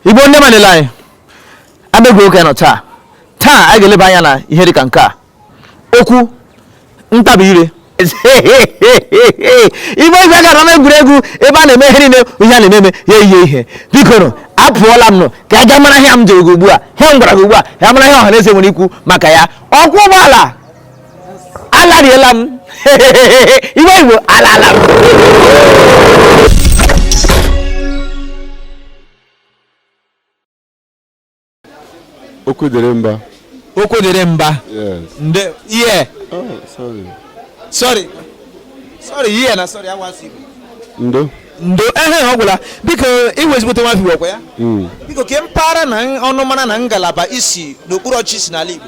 igbo ndị ọma niile anyị abịagokwa nụ taa taa anyị ga-eleba anya na ihe dịka nke a okwu ntabi ire ị bịa ị gaa n'ama egwuregwu ebe a na-eme ihe niile ihe a na-ememe ya ihe ihe biko nụ apụọla m nụ ka a ga mara ihe m jere gị ugbu a ihe m gwara gị ugbu a ya mara ihe ọha na eze nwere ikwu maka ya ọkwọ ụgbọala alariela m iwe igbo alala m okwu dịrị mba okwu dịrị mba nde ihe oh, sorry sorry ihe na sorry a wụ asụsụ igbo ndo ndo ehe ọ gwụla biko ị wụ ezigbote nwa afọ ọ kwa ya hmm. biko kee mpaghara na ọnụmara na ngalaba i si n'okpuru ọchịchị n'ala igbo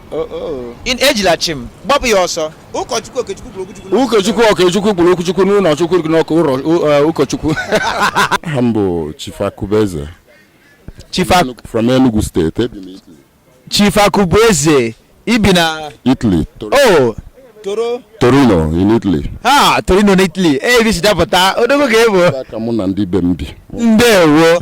ejila chi m gbapụ ya ọsọ ụkọchukwu okechukwu kwuru okwu chukwu ụkọchukwu okechukwu kwuru okwu chukwu n'ụlọ chukwu n'ọkụ uh, ụkọchukwu aha m bụ Chief Akubeze from Enugu steeti Chief Akubeze i bi na Italy oh Toro. Torino in Italy. Ah, Torino in Italy. Ee, eh, ebe si dapụta, odogwu ka ị bụ. Ka mụ na ndị be m bi. Ndewo.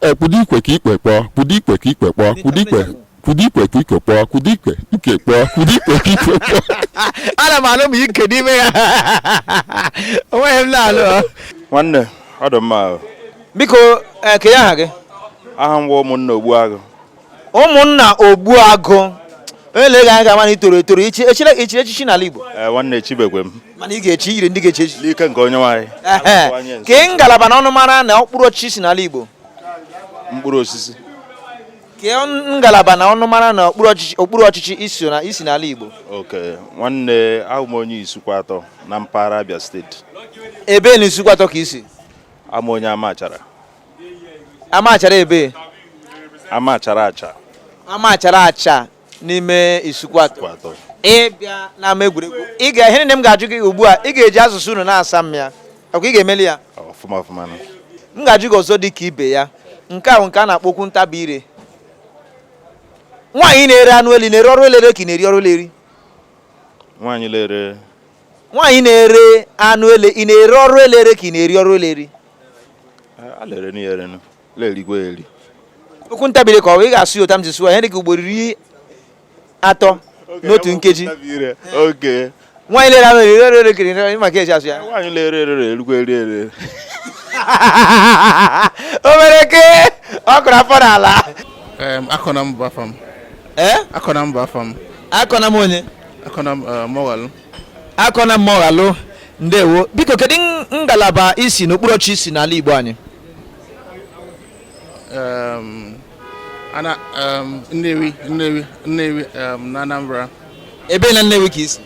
E kwudo ikwe ka ikwe kpọọ, kwudo ikwe ka ikwe kpọọ, kwudo ikwe kwudo ikwe ka ikwe kpọọ, kwudo ikwe ikwe kpọọ, kwudo ikwe ka ikwe kpọọ. ana m anụ m ike n'ime ya onweghị m na-alụ ọ. nwanne ọ dị mma ahụ biko ee, kedu aha gị aha m wụ ụmụnna ogbuagụ ụmụnna ogbuagụ onye lee gị anya ga-ama na ị toro etoro i chi i chiri i chiri echichi n'ala Igbo Eh, nwanne echibekwe m mana ị ga-echi i yiri ndị ga-echi echichi n'ike nke onyenweanyị Ehe. kee ngalaba na ọnụmara na okpuru ọchịchị i si n'ala Igbo mkpụrụ osisi kee ngalaba na ọnụmara na okpuru ọchịchị okpuru ọchịchị i so na i si n'ala Igbo okay nwanne awụ m onye Isuikwuatọ na mpaghara Abia steeti ebee na Isuikwuatọ ka i si ama onye Amachara Amachara ebee Amachara Acha Amachara Acha n'ime Isuikwuatọ ị bịa n'ama egwuregwu ị ga ihe niile m ga-ajụ gị ugbu a ị ga-eji asụsụ unu na-asa m ya ọ kwa ị ga-emeli ya ọfụma ọfụma m ga-ajụ gị ọzọ dị ka ibe ya nke a wụ nke a na-akpọ okwu ntabi ire nwaanyị na-ere anụ ele ị na-ere ọrụ ele ere ka ị na-eri ọrụ ele eri nwaanyị na-ere anụ ele ị na-ere ọrụ ele ere ka ị na-eri ọrụ ele eri a lere na ere na lerigwe eri okwu ntabi ire ka ọ bụ ị ga-asụ ya otu a m ji sụọ ihe dị ka ugboro iri atọ n'otu nkeji nwaanyị lere anụ eri ere ere kiri maka eji asụ ya nwaanyị lere ere ere erugwe eri ere o mere ke ọ kụrụ afọ n'ala Akọnam bụ afa m Akọnam bụ afa m Akọnam onye Akọnam Mọwalụ Akọnam Mụọghalụ ndewo biko kedu ngalaba i si n'okpuru ọchị i si n'ala Igbo anyị um, ana um, Nnewi Nnewi Nnewi um, na Anambra ebe na Nnewi ka i si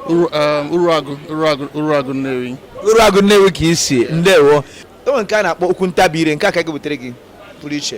Uruagụ Uruagụ Uruagụ Nnewi Uruagụ Nnewi ka i si ndewo e nwere nke a na-akpọ okwu ntabi ire nke aka gị butere gị pụrụ iche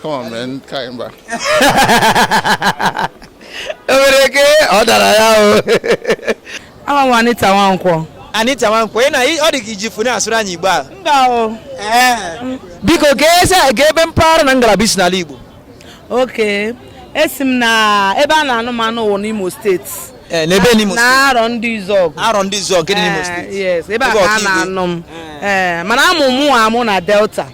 Come on, man. Kaị mba. o nwere ike ọ dara ya o Aha m Anita Nwankwọ. Anita Nwankwo ị na ọ dị ka i ji fune asụrụ anyị Igbo a Mba o. biko kee ebe mpaghara na ngalaba i si n'ala Igbo Oke. Esi m na ebe a na-anụ m anụ wụ n'Imo steeti. Ee, n'ebe n'Imo steeti. Na Arọndizuọgụ. Arọndizuọgụ nke dị n'Imo Eh, steeti Yes, ebe a Ebe ka a Okigwe. na-anụ m. Eh, Mana a mụ mụ amụ na Delta.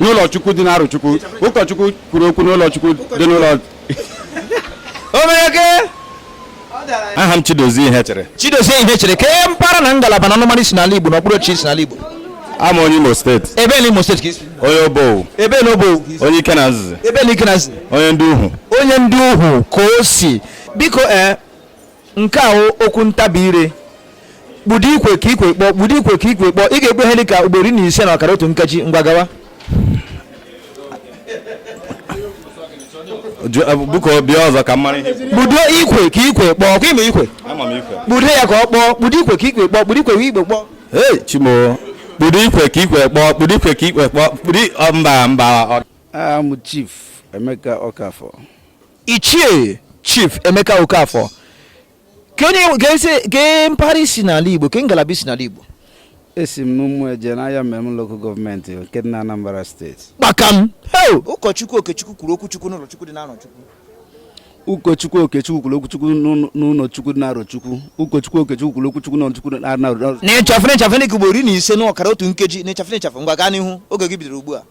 n'ụlọchukwu dị n'Arochukwu ụkọchukwu kwuru okwu n'ụlọchukwu dị n'ụlọ omeeke aha m Chidozie Ihechere Chidozie Ihechere kee mpaghara na ngalaba na ọnụmara i si n'ala Igbo na okpuru ọchịchị i si n'ala Igbo awụ m onye Imo steeti ebe na Imo steeti ka i si onye Obowo ebe na Obowo onye Ikenanzizi ebe na Ikenanzizi onye Ndịuhu onye Ndịuhu ka o si biko ee eh, nke a okwu ntabi ire kpudo ikwe ka ikwe kpọọ kpudo ikwe ka ikwe kpọọ ị ga-ekpe ihe dị ka ugboro iri na ise na ọkara otu nkeji ngwa gawa biko bịa ọzọ ka m mara ihe kpudo ikwe ka ikwe kpọọ ọ kwa i me ikwe kpudo ya ka ọ kpọọ kpudo ikwe ka ikwe kpọọ kpudo ikwe ka ikwe kpọọ ee chimo kpudo ikwe ka ikwe kpọọ kpudo ikwe ka ikwe kpọọ kpudo mba mba aha m Chief Emeka Okafor Ichie Chief Emeka Okafor kee mpaghara i si n'ala Igbo kee ngalaba i si n'ala Igbo esi m n'Ụmụeje n'Ayamelum lokal gọọmenti nke dị n'Anambra steeti kpakam ụkọchukwu Okechukwu kwuru okwuchukwu n'ụlọchukwu dị n'Arọchukwu ụkọchukwu okechukwu kwuru okwuchukwu n'ụlọchukwu dị n'Arọchukwu ụkọchukwu okechukwu kwuru okwuchukwu n'ụlọchukwu dị n'Arọchukwu n'ịchafụ n'ịchafụ n'ike ugboro iri na ise n'ọkara otu nkeji n'ịchafụ n'ịchafụ ngwa gaa n'ihu oge gị bidoro ugbu a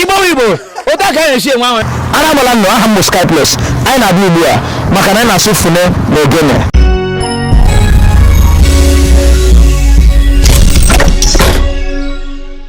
igbo igbo otu a ka anyị na-esi enwe ahụ ara agbala unu aha m bụ Skyplus anyị na-abịa ugbu a maka na anyị na-asụ fune na ogene